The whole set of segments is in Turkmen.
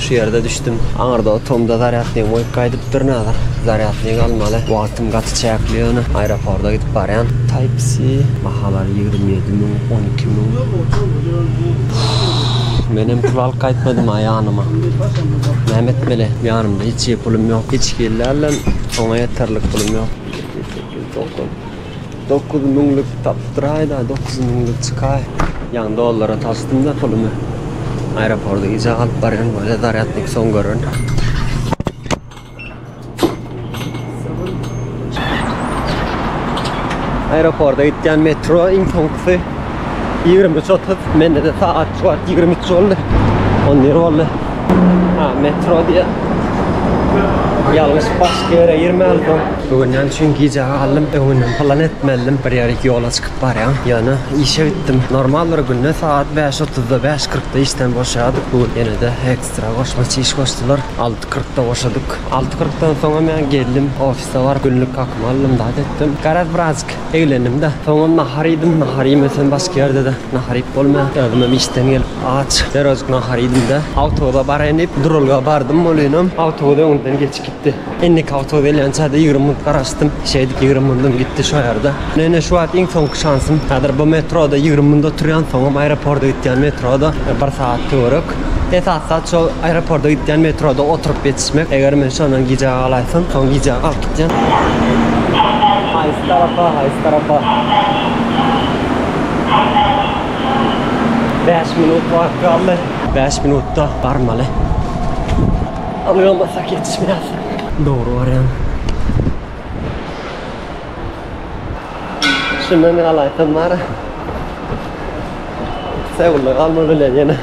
Şu ýerde düşdüm. Aňyrda otamda zarýadnygy goýup gaýdypdyr Nazar. Zarýadnyk almaly. Wagtym gaty çäkli ýöne aeroporda gidip barýan. Type-C bahalary ýigrimi ýedi müň, on iki müň. Menem pul alyp gaýtmadym-a ýanyma. Näme etmeli? Ýanymda hiç pulum ýok. Hiç hillä-lem oňa ýeterlik pulum ýok. Sekiz, dokuz, dokuz. Dokuz müňlük tapdyraýda, dokuz müňlük çykaý. Ýan dollara tasdym-da pulumy. Aeroporda gije galyp barýan bolýa, zarýadnik soň gören. Aeroporda gitýän metro iň soňkusy. Ýigrimi üç otuz, mende-de sagatçy bar, ýigrimi üç boldy. On bir boldy. Ha, metro diýýär. Ýalňyş başga ýere girmälidem. Öwünýän üçin gijä galdym, öwündim, plan etmelidim. Bir ýere ýola çykyp barýan. Ýöne işe gitdim. Normal bir günde sagat bäş otuzda, bäş kyrkda işden boşaýardyk. Bu gün ýene-de ekstra goşmaça iş goşdular. Alty kyrkda boşadyk. Alty kyrkdan soňam ýa geldim, ofis. Üstabar günlük kakymy aldym zat etdim. Garaz birazjyk eglendim-de. Soňam nahar iýdim. Nahar iýmesem başga ýerde-de nahar iýip bolmaýar. Özümem işden gelip aç. Derwezjik nahar iýdim-de. Awtobusa baraýyn diýip duralga bardym. Welinem awtobus öňümden geçip gitdi. Indiki awtobus gelýänçä-de ýigrimi minut garaşdym. Şeýdip ýigrimi minutum gitdi şo ýerde. Ine şu wagt iň soňky şansym. Häzir bu metroda ýigrimi minut oturýan. Soňam aeroporda gidýän metroda bir sagat töwerek. Esasy zat şol aeroporta gitýän metroda oturyp ýetişmek. Eger men şondan gijä galaýsam, soň gijä galyp gitýän. Haýsy tarapa, haýsy tarapa? Bäş minut wagt galdy. Bäş minutda barmaly. Ony bolmasa ýetişmeýär. Dogry barýan. Şundan galaýsam bar. Seulda galma bilen ýene.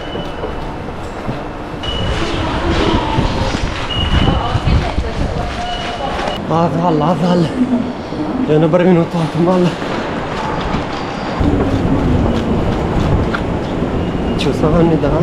Az galdy, az galdy. Ýöne bir minut wagtym galdy. Çusagan bir daha.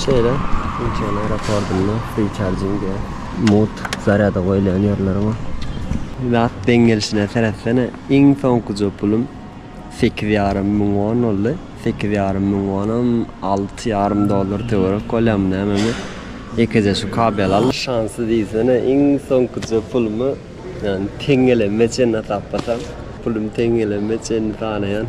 Şeýle Incheon aeropordynda free-charging-e, mugt zarýada goýulýan ýerler bar. Zat deň gelşine seretsene, iň soňkuja pulum sekiz ýarym müň won boldy. Sekiz ýarym müň wonam alty ýarym dollar töwerek bolýarmy nämemi, ýekeje şu kabel aldyk. Şansly diýsene, iň soňkuja pulumy Ýagny teň gelenime çenli hasaplasam, pulum teň gelenime çenli sanaýan.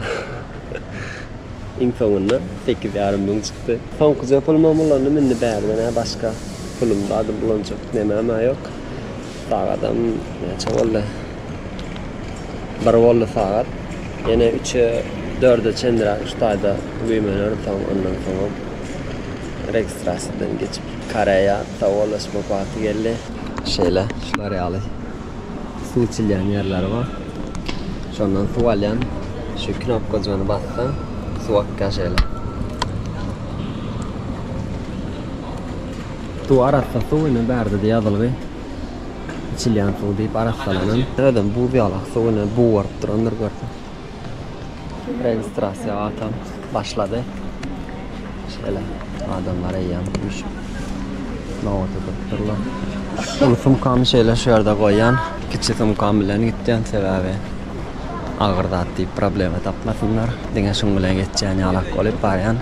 Iň soňunda sekiz ýarym müň çykdy. Soňkuja pulumam ulandy, indi bärden-ä başga pulum zady bulanjak nemem-ä ýok. Sagadam näçe boldy? Bir boldy sagat. Ýene üçe, dörde çenliräk şu taýda güýmenerin soň, ondan soňam registrasiýadan geçip, Koreýa sowgalaşmak wagty geldi. Şeýle, şular ýaly suw içilýän ýerleri bar. Şondan suw alýan, şu knopkajygyny bassaň, suw akýar şeýle. Suw arassa suw, ine bärde-de ýazylgy içilýän suw diýip arassalanan. Özem buz ýalak suw, ine bugaryp durandyr görseň. Registrasiýa gatam başlady. Şeýle adamlar eýýäm üýşüp nobata durupdyrlar. Uly sumkamy şeýle şu ýerde goýýan, kiçi sumkam bilen gitýän, sebäbi agyr zat diýip problema tapmasynlar. Diňe şuň bilen geçýän ýalak bolup barýan.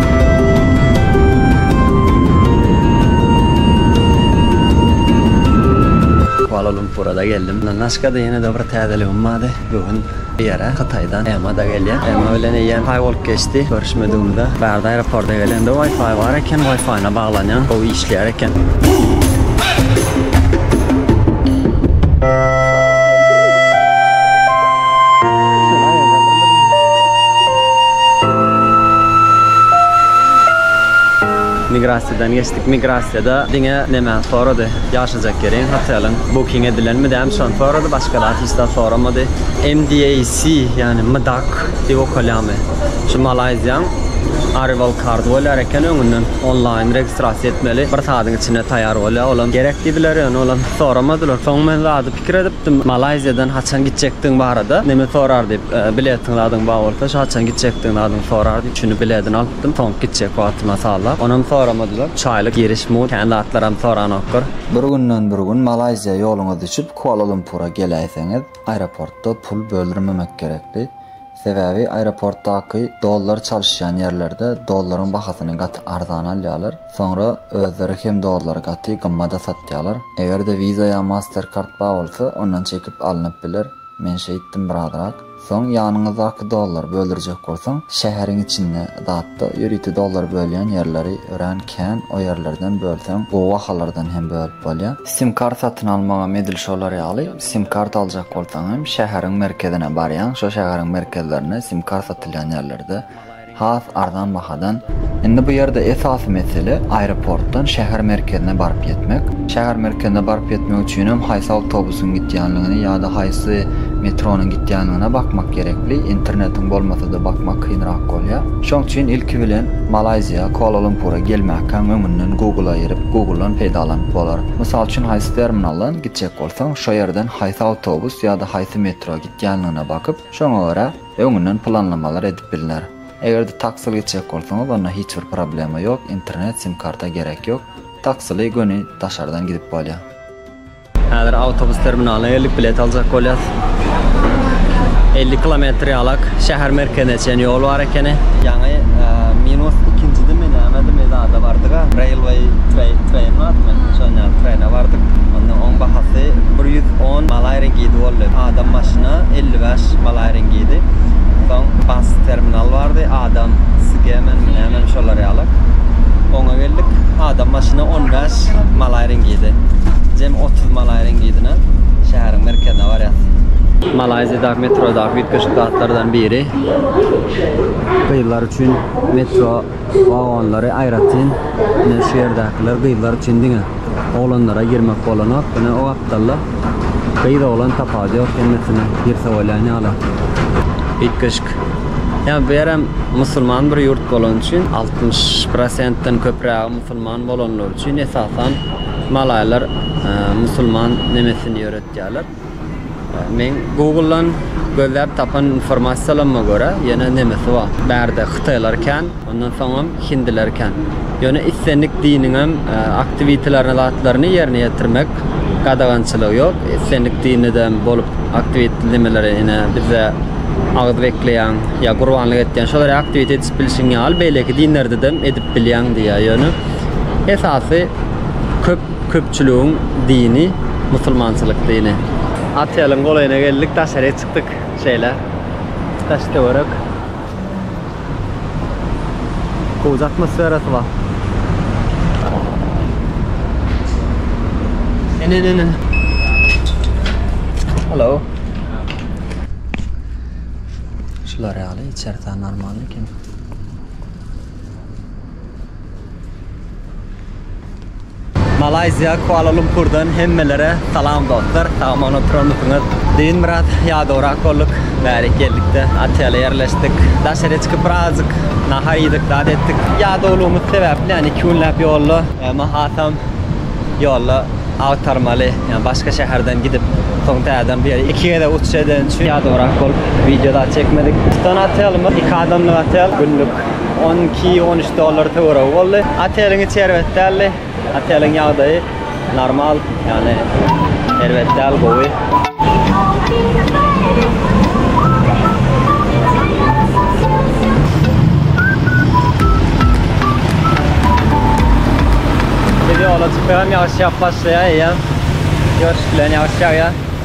Kuala Lumpura-da geldim. Naskada ýene-de bir täzeligim bardy. Bu gün bu ýere Hytaýdan Emma-da gelýär. Emma bilen eýýäm paý bolup geçdi görüşmedigimize. Bärde aeroporta gelende Wi-Fi bar eken. Wi-Fi-na baglanýan. Gowy işleýär. çykýar eken. Migrasiýadan geçdik. Migrasiýada diňe näme sorady? Ýaşajak ýeriň, hoteliň booking edilenmi däm şony sorady, başga zat hiç zat soramady. MDAC, ýagny MDAC diýip okalýamy? Şu Malaýziýaň Arrival Card bolýar eken öňünden. Onlaýyn registrasiýa etmeli. Bir saadyň içinde taýýar bolýar. Olam gerek diýdiler, ýöne olam soramadylar. Soň men zady pikir edipdim. Malaýziýadan haçan gitjekdigiň barada neme sorar diýip, biletiň zadyň bar bolsa, şu haçan gitjekdigiň zadyň sorar diýip, şuny biledini alypdym. Soňky gitjek wagtyma sallap. Onam soramadylar. Üç aýlyk giriş mugt. Kän zatlaram soranoklar. Bir günden bir gün Malaýziýa ýoluňyz düşüp, Kuala-Lumpura geläýseňiz, aeroportda pul böldürmemek gerekdi. Sebäbi aeroportdaky dollar çalyşýan ýerlerde dollaryň bahasyny gaty arzana alýarlar, soňra özleri hem dollary gaty gymmada satýarlar. Eger-de Visa ýa Mastercard bar bolsa, ondan çekip alnyp biler. Men şeýtdim birazrak. Soň ýanyňyzdaky dollary böldürjek bolsaň, şäheriň içinde zatda ýörite dollar bölýän ýerleri örän kän, o ýerlerden bölseň, gowy bahalardan hem bölüp bolýar. Sim-kart satyn almagam edil şolar ýaly. Sim karta aljak bolsaň hem şäheriň merkezine barýaň, şo şäheriň merkezlerinde sim kart satylýan ýerlerde has arzan bahadan Indi bu ýerde esasy mesele aeroportdan şäher merkezine baryp ýetmek. Şäher merkezine baryp ýetmek üçin hem haýsy awtobusyň gidýänligini ýa-da haýsy metronyň gidýänligine bakmak gerekli, internetiň bolmasa-da bakmak kynrak bolýar. Şoň üçin ilki bilen Malaýziýa, Kuala-Lumpura gelmäkäň öňünden Google-a girip, Google-dan peýdalanyp bolar. Mysal üçin haýsy terminaldan gitjek bolsaň. Soň şo ýerden haýsy awtobus ýa-da haýsy metro gitýänligine bakyp, şoňa görä öňünden planlamalar edip bilner. Eger-de taksili gitjek bolsaňyz, onda hiç bir problema ýok, internet, sim-karta gerek ýok. Taksili göni daşardan gidip bolýar. Häzir awtobus terminalyna geldik, bilet aljak bolýas. Elli kilometr ýalak şäher merkezine çen ýol bar. Kene ýaňy minus ikinjidimi nämedimi zada bardyga, Railway Train Train barmy? Şon ýaly Train-e bardyk. Onda oň bahasy bir ýüz on Malay Ringidi boldy. Adam başyna elli bäş Malay Ringidi. Soň Bus Terminal bardy, Adam Sgemenmi nämemi şolar ýaly. Oňa geldik, adam başyna on bäş Malay Ringidi. Jemi otuz Malay Ringidine şäheriň merkezine barýas. Malaýziýadaky metrodaky üýtgeşik zatlardan biri. Gyzlar üçin metro wagonlary aýratyn. Ine şu ýerdäkiler gyzlar üçin diňe. Oglanlara girmek bolanok. Ine o gapdalda gyz oglan tapawudy ýok hemmesine girse bolýan ýaly. Üýtgeşik. Ýa bu ýerem musulman bir ýurt bolany üçin altmyş prosentden köprägi musulman bolanlary üçin esasan malaýlar musulman nemesini ýöretýärler. Meň Google-dan gözläp tapan informasiýalarma görä, ýene nemisi bar. Bärde hytaýlar kän, ondan soňam hindiler kän. Ýöne islendik diniňem aktiwitelerini zatlaryny ýerine ýetirmek gadagançylygy ýok. Islendik dinidem bolup aktiwit nemeleri ine bizde agyz bekleýäň ýa gurbanlyk etýäň şolary aktiwit edişip bilşiň ýaly beýleki dinlerdedem edip bilýäň diýýär. Ýöne esasy köp Köpçüligiň dini musulmançylyk dini. Oteliň golaýyna geldik, daşaryýa çykdyk. Şeýle daş-töwerek gowy atmosferasy bar. Ene-ene-ne. Hello. Şular ýaly içersi normalny eken. Malayziýa Kuala Lumpurdan hemmelere salam dostlar. Sagamana oturandysyňyz. Düýn biraz ýadawrak bolduk. Bärik geldikde otele ýerleşdik. Daşary çykyp birazjyk nahar iýdik, zat etdik. Ýadawlygymyz sebäpli, ýani iki günläp ýolda, emma hasam ýolda agtarmaly, ýani başga şäherden gidip, soň täzeden bu ýere iki gezek uçuş edeni üçin ýadawrak bolup, wideo zat çekmedik. Tutan otelimiz iki adamlyk otel, günlük On iki, on üç dollar töweregi boldy. Oteliň içi erbet däldi. Oteliň ýagdaýy normal, ýagny erbet däl, gowy. Biz ýola çykyp ýagşy ýagyp başlaýar eýýäm. Ýoşup bilen ýagşy ýagýar.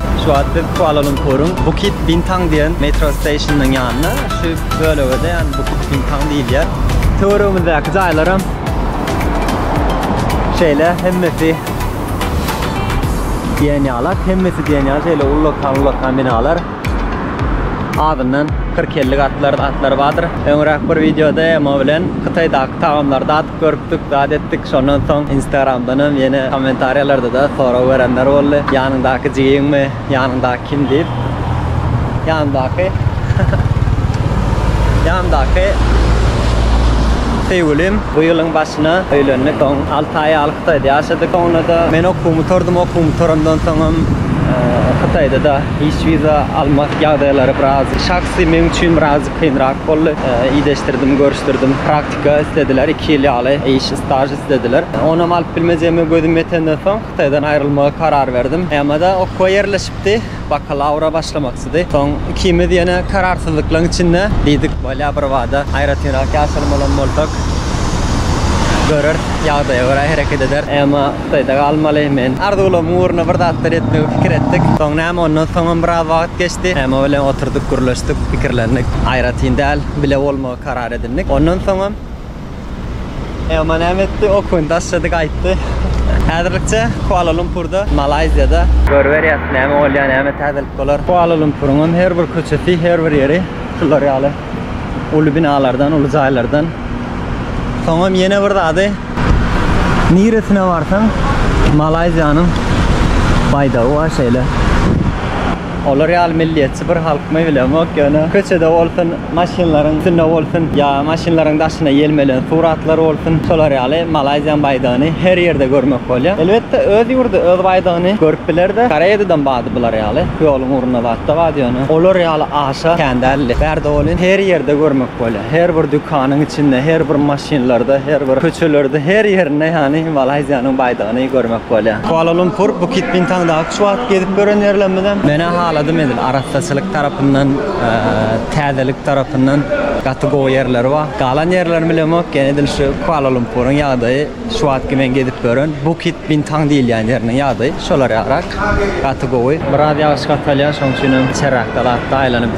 Şu wagt biz Kuala Lumpuryň Bukit Bintang diýen metro stationynyň ýanynda. Şu bölege-de ýa-ni Bukit Bintang diýilýär. Töweregimizdäki jaýlaram şeýle hemmesi diýen ýalak. Hemmesi diýen ýaly şeýle ullakan-ullakan binalar. Azyndan kyrk-elli gatlar, atlar bardyr. Öňräk bir wideoda Emo bilen Hytaýdaky tagamlary dadyp Görüpdik, zat etdik. Şondan soň Instagramdanam ýene kommentariýalarda-da sorag berenler boldy. Ýanyňdaky jigiňmi? Ýanyňdaky kim? diýip. Ýanymdaky Ýanymdaky söýgülim. Bu ýylyň başyna öýlendik. Soň alty aý ýaly Hytaýda ýaşadyk. Soňra-da men okuwymy gutardym. Okuwymy gutarandan soňam Hytaýda-da iş wiza almak ýagdaýlary biraz şahsy meň üçin birazjyk kynrak boldy. Ideshdirdim, görüşdirdim. Praktika islediler, iki ýyl ýaly iş, staž islediler. Onam alyp bilmejegime gözüm ýetenden soň, Hytaýdan aýrylmagy karar berdim. Ýamada okuwa ýerleşipdi, bakalawra başlamakçydy. Soň ikimiz ýene kararsyzlyklaň içinde diýdik, bolýa birbada aýratynrak ýaşaly bolan bolsak, göreris, ýagdaýa görä hereket ederis. Ýama Hytaýda galmaly, men arzuwlarymyň ugruna bir zatlar etmegi pikir etdik. Soň näme, ondan soňam biraz wagt geçdi. Ýama bilen oturdyk, gürleşdik, pikirlendik. Aýratyn däl, bile bolmagy. karar edindik. Ondan soňam Elman näme etdi? Okuny daşlady, gaýtdy. Häzirlikçe Kuala-Lumpurda, Malaýziýada. Görüberýäs, näme bolýar, näme täzelik bolar. Kuala-Lumpuryňam her bir köçesi, her bir ýeri şular ýaly uly binalardan, uly jaýlardan. Soňam ýene bir zady, niresine barsaň, Malaýziýanyň baýdagy bar şeýle. Olar ýaly milliýetçi bir halkmy bilemok, ýöne köçede bolsun, maşynlaryň üstünde bolsun ýa maşynlaryň daşyna ýelmelen suratlar bolsun, şolar ýaly Malaýziýanyň baýdagyny her ýerde görmek bolýar. Elbetde, öz ýurdy, öz baýdagyny görüp biler-de, Koreýadadam bady bular ýaly, ýoluň ugrunda zat-da bar, ýöne olar ýaly aşa kän däldi. Bärde welin, her ýerde görmek bolýar. Her bir dükanyň içinde, her bir maşynlarda, her bir köçelerde, her ýerinde ýagny Malaýziýanyň baýdagyny görmek bolýar. Kuala-Lumpur, Bukit Bintaňdaky Şu wagt gezip gören ýerlerimizem. Menä haladym edil arassaçylyk tarapyndan täzelik tarapyndan gaty gowy ýerleri bar. Galan ýerlerini bilemok ýene edil şu Kuala Lumpuryň ýagdaýy şu wagtky men gezip gören Bukit Bintang diýilýän ýeriniň ýagdaýy şolar ýarak gaty gowy. Biraz ýagyş gatalýar şoň üçinem içeräkde latda aýlanyp